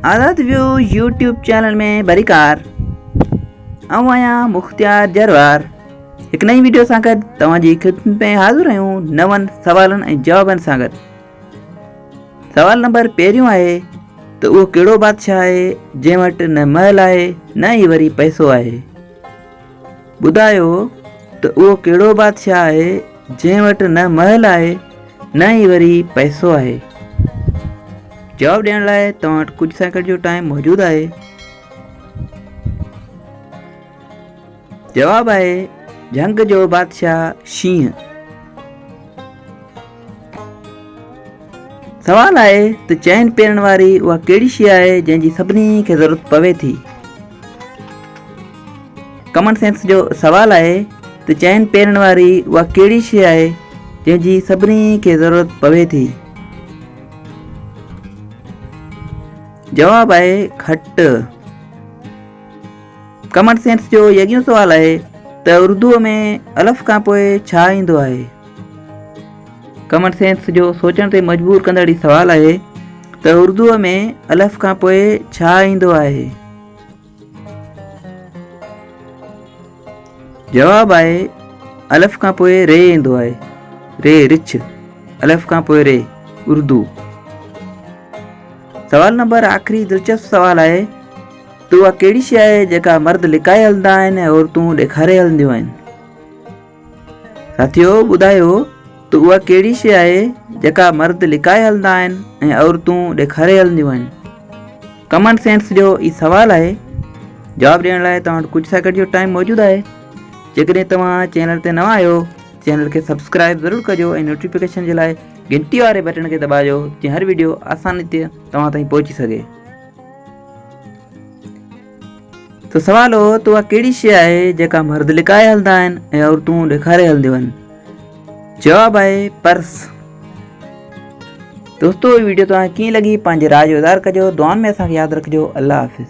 آزاد ويو YouTube channel ۾ بريڪار آئون آهيان مختيار جروار هڪ نئين ويڊيو سان گڏ توهان جي خدمت ۾ حاضر آهيون نون سوالن ۽ جوابن سان گڏ سوال نمبر پهريون آهي ته اهو ڪهڙو بادشاهه آهي جنهن وٽ نه محل آهي نه ئي وري پئسو آهي ٻڌايو ته اهو ڪهڙو بادشاهه آهي جنهن وٽ نه محل آهي نه ئي وري پئسو آهي جواب ڏيڻ لاء توهان وٽ ڪجهه سيڪنڊ جو ٽائم موجود آهي جواب آهي جهنگ جو بادشاهه شينهن سوال آهي ته چين پيرڻ واري اها ڪهڙي شي آهي جنهن جي سڀني کي ضرورت پوي ٿي ڪمن سينس جو سوال آهي ته چين پيرڻ واري اها ڪهڙي شي آهي جنهن جي سڀني کي ضرورت پوي ٿي جواب آهي کٽ ڪمن سينس جو يگيون سوال آهي ته اردو ۾ الف کان پوء ڇا ايندو آهي ڪامن سينس جو سوچڻ تي مجبور ڪندڙ هي سوال آهي ته اردوء ۾ الف کان پوء ڇا ايندو آهي؟ جواب آهي الف کان پوء ري ايندو آهي ري رڇ الف کان پوء ري اردو سوال نمبر آخري دلچسپ سوال آهي ته اها ڪهڙي شي آهي جيڪا مرد لڪائي هلندا آهن ۽ عورتون ڏيکاري هلنديون آهن ساٿيو ٻڌايو ته اها ڪهڙي شيء آهي جيڪا مرد لڪائي هلندا آهن ۽ عورتون ڏيکاري هلنديون آهن؟ ڪمن سينس جو هي سوال آهي جواب ڏيڻ لاء توهان وٽ ڪجهه سيڪنڊ جو ٽائيم موجود آهي جيڪڏهن توهان چينل تي نوان آهيو چينل کي سبسڪرائب ضرور ڪجو ۽ نوٽيفڪيشن جي لاء گهنٽي واري بٽڻ کي دٻاجو جيئن هر ويڊيو آساني تي توهان تائين پهچي سگهي ته سوال هو ته اها ڪهڙي شيء آهي جيڪا مرد لڪائي هلندا آهن ۽ عورتون ڏيکاري هلنديون آهن؟ جواب آهي پرس. دوستو هي ويڊيو توهان کي ڪيئن لڳي پنهنجي راء جو اظهار ڪجو دعائن ۾ اسان کي ياد رکجو الله حافظ.